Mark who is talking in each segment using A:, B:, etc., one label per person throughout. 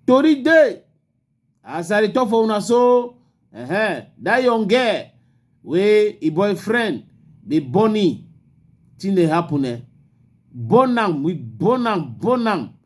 A: tori dey as i dey talk for una so uh-huh, that young girl wey e boyfriend dey born him thing dey happen eh born am we born am born am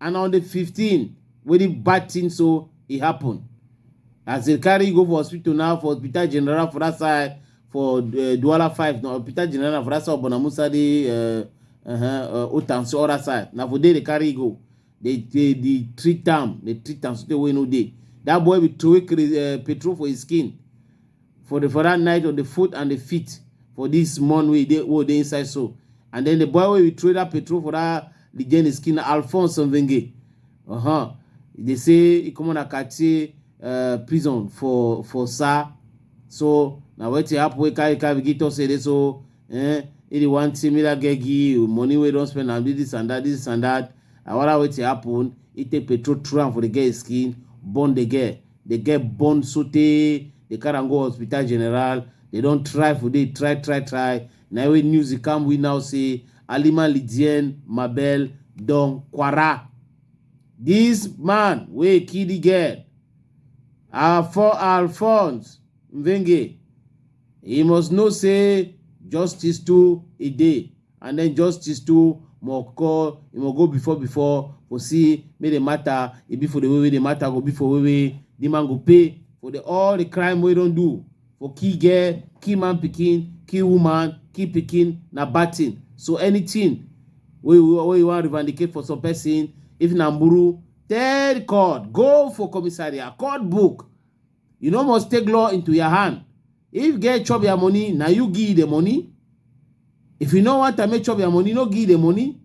A: and on the 15 wey the bad thing so e happen as they carry go for hospital now for hospital general for that side for uh, Douala 5 now hospital general for that side Bona Musa the uh, uh-huh, uh, Otanso other side now for there they carry go they they, they treat am they treat am so they wey no dey that boy be throwing uh, petrol for his skin for the for that night of the foot and the feet for this month wey dey wey dey inside so and then the boy wey we throw that petrol for that the journey skin na alphonse nvenge uh-huh. e dey say e comot na cartier uh, prison for for sa so na wetin happen wey carry carry begin talk say e dey so eh, e dey wan say make that girl give you money wey don spend am do this and that this and that awara wetin happen e take petrol throw am for the girl skin burn the girl dey get burn sotey dey carry am go hospital general dey don try for dey try try try na wey news e come we now say alima lidien mabel don kwara this man wey kill the girl afo alphonse mvenge he must know say justice too e dey and den justice too must call e must go before before for see make the matter e be for the way wey the matter go be for way wey the man go pay for the all the crime wey don do for kill girl kill man pikin kill woman kill pikin na bad thing so anything wey you wey you wan revandicate for some person if na muru tell court go for commissariat court book You no must take law into your hand. If girl chop your money, now you give the money. If you no want to make chop your money, no give the money.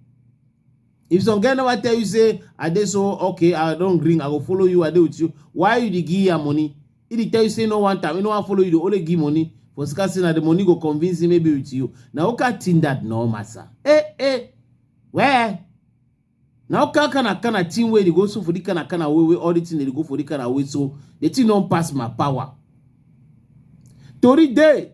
A: If some girl never tell you say, I did so, okay, I don't ring, I will follow you, I do with you. Why you give your money? If he tell you say no one time, you no want follow you, they only give money. For scarcity, now the money go convince him maybe with you. Now, okay, think that no, massa. Eh, eh, where? Now can can I can I team where they go so for the can I can I way all the thing they go for the can I way so the thing don't pass my power. Tori day